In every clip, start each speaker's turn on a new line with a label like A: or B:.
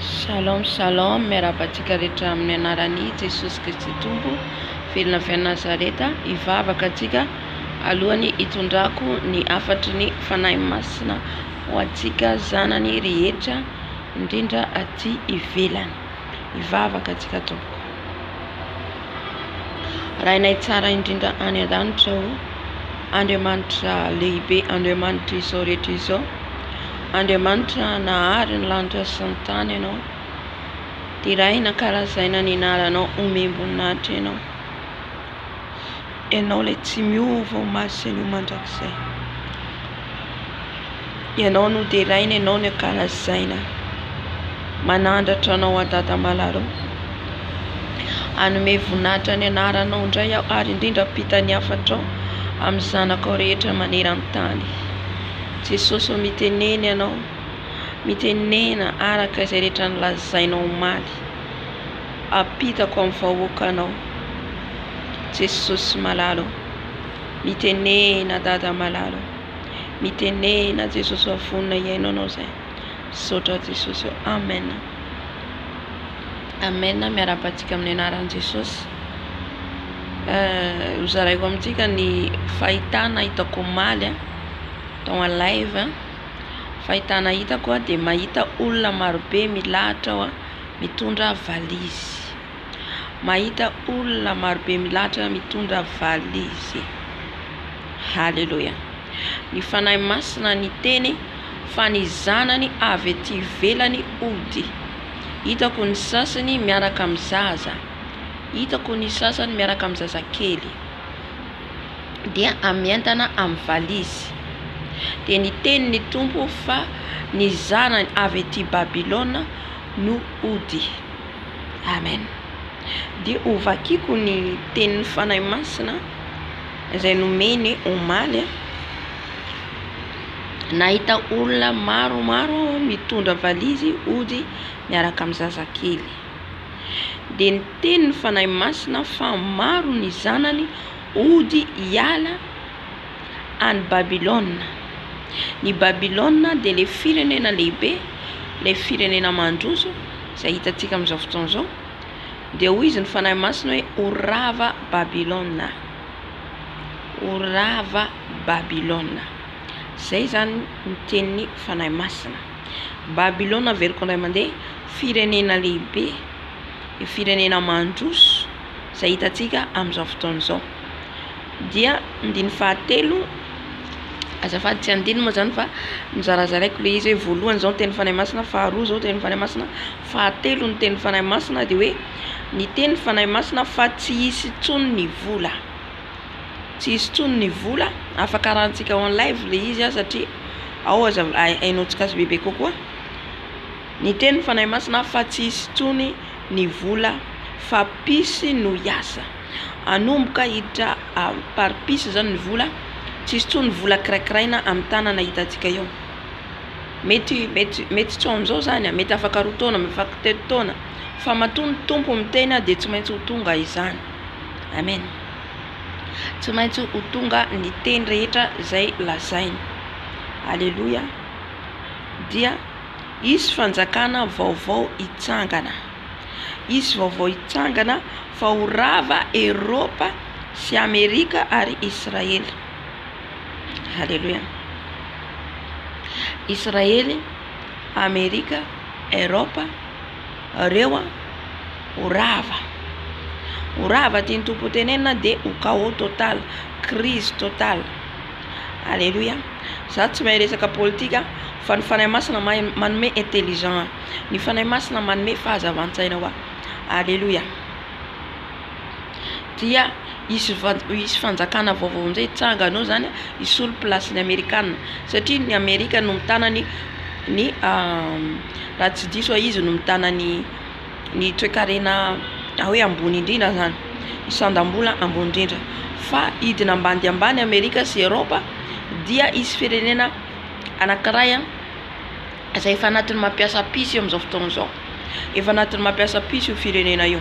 A: Shalom shalom miarahaba antsika rehetra amin'ny anaran'i Jesosy Kristy Tompo velona avy any Nazareta hivavaka antsika alohan'ny hitondrako ny hafatry ny Fanahy Masina ho antsika zanany rehetra indrindra aty ivelany. Hivavaka antsika tompoko. Rainay tsara indrindra any an-danitra o. Andriamanitra lehibe, Andriamanitra izao rehetra izao. Andriamanitra nahary ny lanitra sy ny tany ianao. Deraina, karazaina ny anaranao, omem-boninahitra ianao. Ianao ilay tsy miova omaly sy anio mandrakizay. Ianao no deraina, Ianao no ankalazaina. Manandratra Anao aho Dada Malala o. Hanome voninahitra ny anaranao indray aho ary indrindra hampita ny hafatrao amin'ny zanakao rehetra maneran-tany. Jesosy ô mitenena Ianao, mitenena araka izay rehetra nolazainao omaly. Ampitako amin'ny vahoakanao Jesosy malala o Mitenena Dada malala o Mitenena Jesosy fa vonona hihaino anao zay Misaotra Jesosy o Amen Amen miarahaba antsika amin'ny anaran'i Jesosy Ho zaraiko amintsika ny fahitana hitako omaly a tao en live a Fahitana hitako a dia mahita olona marobe milahatra aho a mitondra valizy. Mahita olona marobe milahatra mitondra valizy. Haleloia. Ny Fanahy Masina niteny fa ny zanany avy ety ivelany hody. Hitako ny sasany miaraka amin'ny zaza. Hitako ny sasany miaraka amin'ny zazakely. Dia amientana amin'ny valizy. Dia niteny ny Tompo fa ny zanany avy ety Babylona no hody. Amen. Dia ho vakiko ny tenin'ny Fanahy Masina izay nomeny omaly. Nahita olona maromaro aho mitondra valizy hody miaraka amin'ny zazakely. Dia niteny ny Fanahy Masina fa maro ny zanany hody hiala. any Babylona. Ny Babylona dia ilay firenena lehibe, ilay firenena mandroso izay hitantsika amin'izao fotoana izao. Dia hoy izy ny Fanahy Masina hoe ho rava Babylona, ho rava Babylona. Izay izany ny tenin'ny Fanahy Masina. Babylona averiko indray mandeha, firenena lehibe, firenena mandroso izay hitantsika amin'izao fotoana izao. Dia andininy fahatelo, azafady tsy andininy moa zany fa nozarazaraiko le izy hoe voalohany zao ny tenin'ny Fanahy Masina, faharoa zao ny tenin'ny Fanahy Masina, fahatelo ny tenin'ny Fanahy Masina dia hoe ny tenin'ny Fanahy Masina fa tsy hisy intsony ny vola, tsy hisy intsony ny vola, afaka arahantsika en live le izy an satria ao aza hainao tsy gasy bebe kokoa, ny tenin'ny Fanahy Masina fa tsy hisy intsony ny vola fa psy no hiasa. Hanomboka hiditra par piece izany ny vola, tsy hisy intsony vola kiraikiraina amin'ny tanana hitantsika eo. Mety mety mety tsy ho amin'izao izany, mety afaka roa taona, mety afaka telo taona fa matoa ny Tompo miteny dia tsy maintsy ho tonga izany. Amen. Tsy maintsy ho tonga ny teny rehetra izay lazainy. Aleloia. Dia hisy fanjakana vaovao hitsangana. Hisy vaovao hitsangana fa ho rava Eropa sy Amerika ary Israely. Haleloia. Israely, Amerika, Eropa, reo ho rava. Ho rava tian'ny Tompo ho tenenina dia ho chaos total, crise total. Haleloia. Za tsy mahay resaka politika fa ny Fanahy Masina mahay manome intelligent. Ny Fanahy Masina manome fahazavan-tsaina ho ahy. Aleloia! Dia hisy hisy fanjakana vaovao amin'izay hitsangana ao izany hisolo place ny amerikana satria ny amerika no mitana ny ny raha tsy diso aho izy no mitana ny ny toekarena atao hoe ambony indrindra zany ny sandam-bola ambony indrindra fa hidina ambany dia ambany amerika sy eropa dia hisy firenena anakiray a izay efa anatin'ny maha mpiasa piso io amin'izao fotoana izao. Efa anatin'ny maha mpiasa piso io firenena io.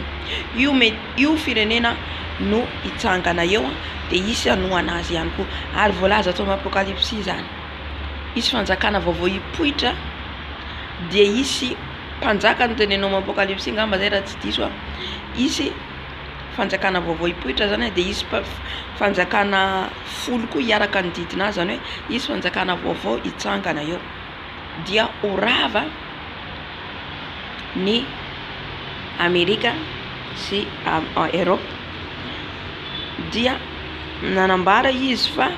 A: Io me- io firenena no hitsangana eo dia hisy hanohana azy ihany koa. Ary voalaza ato amin'ny Apokalypsy izany. Hisy fanjakana vaovao hipoitra, dia hisy mpanjaka no tenenina ao amin'ny Apokalypsy angamba izay raha tsy diso aho. Hisy fanjakana vaovao hipoitra izany dia hisy mpa- fanjakana folo koa hiaraka hanodidina azy, izany hoe hisy fanjakana vaovao hitsangana eo. dia ho rava ny Amerika sy Eropa dia nanambara izy fa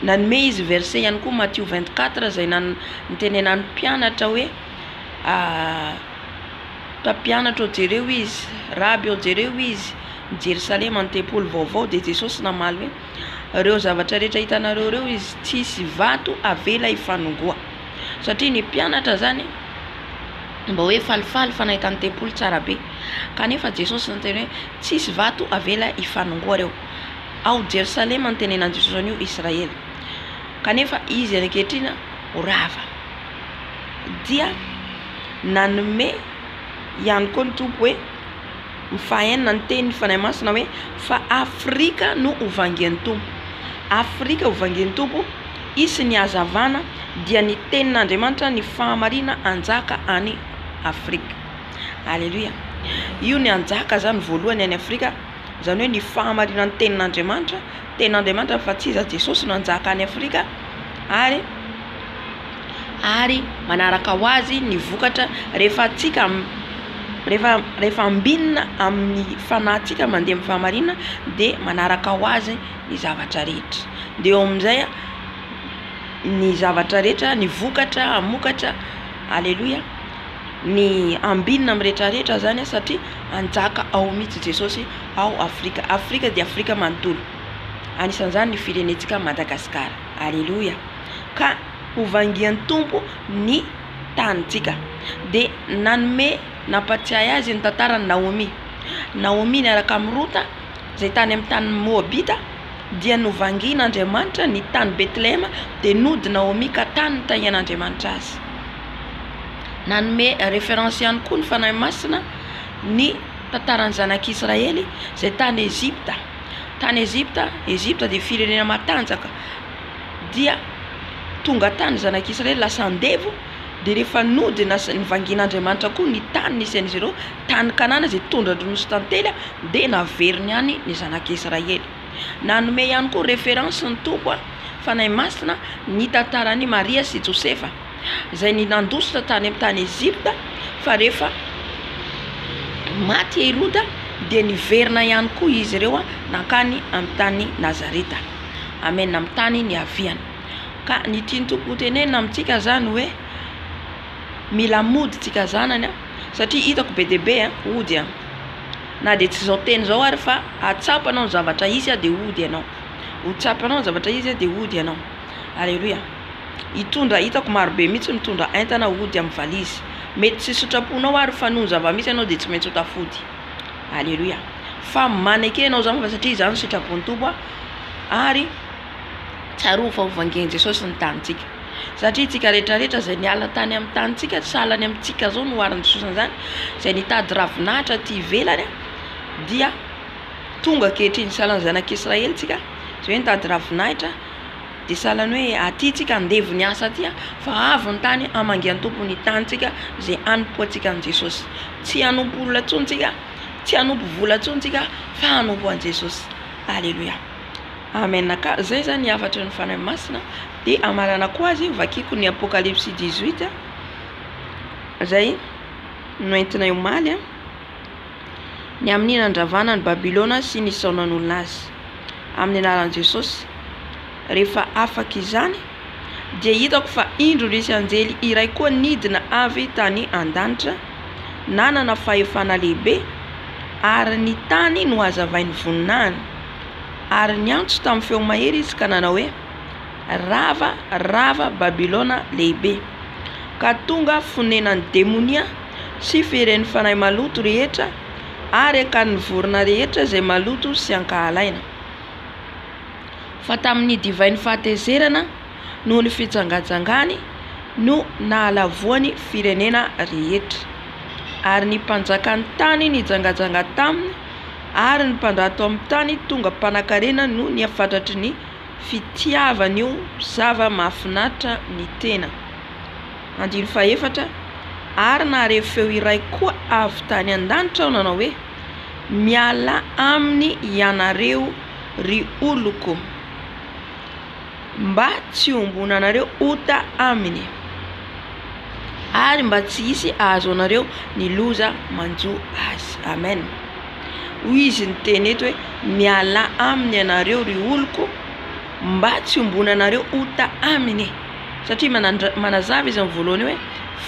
A: nanome izy verset ihany koa Matio vingt quatre izay nitenenan'ny mpianatra hoe mpampianatra ô jereo izy, raby ô jereo izy, i Jerosalema ny tempoly vaovao dia Jesosy namaly hoe. Ireo zavatra rehetra hitanareo ireo izy tsisy vato avela hifanongoa satria ny mpianatra zany mba hoe falifaly fa nahita ny tempoly tsara be kanefa Jesosy no niteny hoe tsisy vato avela hifanongoa ireo ao Jerosalema ny tenenan'i Jesosy an'io Israely kanefa izy any ankehitriny ho rava dia nanome ihany koa ny Tompo hoe Ny fahaenina, ny tenin'ny Fanahy Masina hoe, Fa Afrika no ho vangen'ny Tompo. Afrika ho vangen'ny Tompo, hisy ny hazavana, dia ny Tenin'Andriamanitra, ny fahamarinana hanjaka any Afrika. Aleloia! Io ny hanjaka izany voalohany any Afrika, izany hoe ny fahamarinan'ny Tenin'Andriamanitra, Tenin'Andriamanitra fa tsy iza Jesosy no hanjaka any Afrika ary ary manaraka ho azy ny vokatra rehefa antsika rehefa rehefa ambinina amin'ny fanahintsika mandeha amin'ny fahamarinana dia manaraka ho azy ny zavatra rehetra dia eo amin'izay ny zavatra rehetra ny vokatra hamokatra aleloia ny ambinina amin'ny rehetra rehetra zany satria hanjaka ao mihitsy Jesosy. ao Afrika. Afrika dia Afrika manontolo. Anisan'izany ny firenentsika Madagasikara. Aleloia. Ka hovangian'ny Tompo ny tanintsika. Dia nanome nampatsiahy azy ny tantaran'i Naomy. Naomy niaraka amin'i Rota izay tany amin'ny tany Moabita dia novangian'Andriamanitra ny tany Bethlehema dia nody Naomy ka tany nitahian'Andriamanitra azy. Nanome référence ihany koa ny Fanahy Masina ny Tantaran'ny Zanak'i Israely izay tany Egypta. Tany Egypta, Egypta dia firenena matanjaka, dia tonga tany ny Zanak'i Israely lasa andevo, dia rehefa nody nasa- nivangian'Andriamanitra koa ny tany nisy an'izy ireo, tany Kanana izay tondra-droa nosy tantely, dia naveriny any ny Zanak'i Israely. Nanome ihany koa reference ny Tompo, Fanahy Masina, ny tantaran'i Maria sy Josefa. izay ny nandositra tany amin'ny tany Egypta fa rehefa maty i Heroda dia niverina ihany koa izy ireo nankany amin'ny tany Nazareta. Amen, amin'ny tany niaviany. Ka ny tian'ny Tompo hotenenina amintsika zany hoe mila mody tsika zanany a, satria hitako be dia be a, hody a. Na dia tsy zao teny zao ary fa atsapa anao ny zavatra hisy a dia hody ianao, ho tsapanao ny zavatra hisy a dia hody ianao. Aleloia. hitondra hitako marobe mihitsy mitondra entana hody amin'ny valizy mety tsy sitraponao ary fa noho ny zava-misy ianao dia tsy maintsy ho tafody aleloia fa maneke ianao izany fa satria izany sitrapon'ny tompo a ary tsaroa fa ho vangen'i jesosy ny tanintsika satria tsika rehetrarehetra izay niala tany amin'ny tanintsika tsy salany amintsika izao no hoharin'i jesosy an'izany izay nitady ravinahitra ty ivelany a dia tonga ankehitriny salan'ny zanak'israely tsika izay hoe nitady ravinahitra Dia sahala ny hoe aty tsika andevo ny asa aty fa avo ny tany hamangy an Tompo ny tany tsika izay hanompo antsika an'i Jesosy. Tsy hanompo olona intsony tsika, tsy hanompo vola intsony tsika fa hanompo an'i Jesosy. Aleloia. Amen ka zay zany ny hafatry ny Fanahy Masina dia hamaranako azy vakiko ny Apocalypse dix huit zay no entinay omaly a. Ny amin'ny nandravana an'i Babylona sy ny zao nanolona azy amin'ny anaran'i Jesosy. Rehefa afaka izany dia hitako fa indro nisy anjely iray koa nidina avy tany an-danitra, nanana fahefana lehibe, ary ny tany nohazavainy voninahiny. Ary niantso tamin'ny feo mahery izy ka nanao hoe, Rava, rava Babylona lehibe, ka tonga fonenan'ny demonia sy firen'ny fanahy maloto rehetra ary akan'ny vorona rehetra izay maloto sy ankahalaina. Fa tamin'ny divain'ny fahatezerana noho ny fijangajangany no nahalavoany firenena rehetra. Ary ny mpanjakan'ny tany nijangajanga taminy ary ny mpandrato amin'ny tany tonga mpanakarena noho ny hafatratry ny fitiavan'io zava-mahafinaritra ny tena. Andininy fahefatra, Ary naharevo feo iray koa avy tany an-danitra aho nanao hoe, Mialà aminy hianareo, ry oloko, mba tsy hiombonanareo ota aminy, ary mba tsy hisy hahazo anareo ny loza manjo azy. Amen. Hoy izy niteny eto hoe, Mialà aminy ianareo, ry oloko, mba tsy hiombonanareo ota aminy. Satria manandra, manazava izy amin'ny voalohany hoe,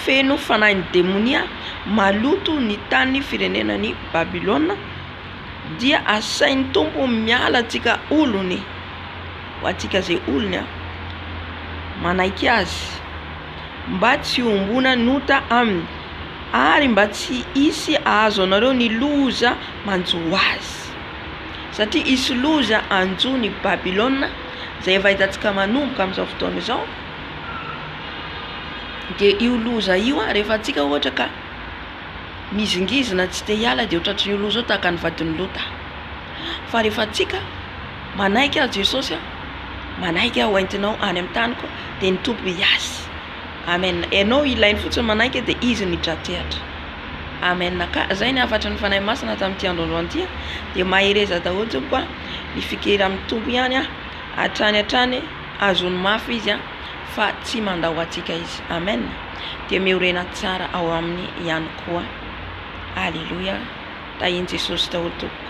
A: Feno fanahin'ny demonia, maloto ny tanin'ny firenenan'i Babylona, dia asain'ny Tompo miala antsika olony, ho antsika izay olony an, manaiky Azy, mba tsy hiombonan'ota aminy, ary mba tsy hisy hahazo anareo ny loza manjo azy. Satria hisy loza hanjo ny Babylona. izay efa hitantsika manomboka amin'izao fotoana izao dia io loza io a rehefa antsika ohatra ka mizingizina tsy te hiala dia ohatra ohatran'io loza io tahaka ny vadin'i Lota fa rehefa antsika manaiky azy Jesosy a manaiky aho hoentinao any amin'ny taniko dia ny Tompo hiasy amen ianao ilainy fotsiny manaiky dia izy no hitra-tehatra amen ka izay ny hafatry ny Fanahy Masina tamin'ity androandro an'ity dia mahereza daholo tompoko a Ny fikera amin'ny Tompo ihany an, hatrany hatrany azony mafy Izy an, fa tsy mandao antsika Izy. Amen. Dia miorena tsara ao Aminy ihany koa. Aleloia. Tahian'i Jesosy daholo tompoko.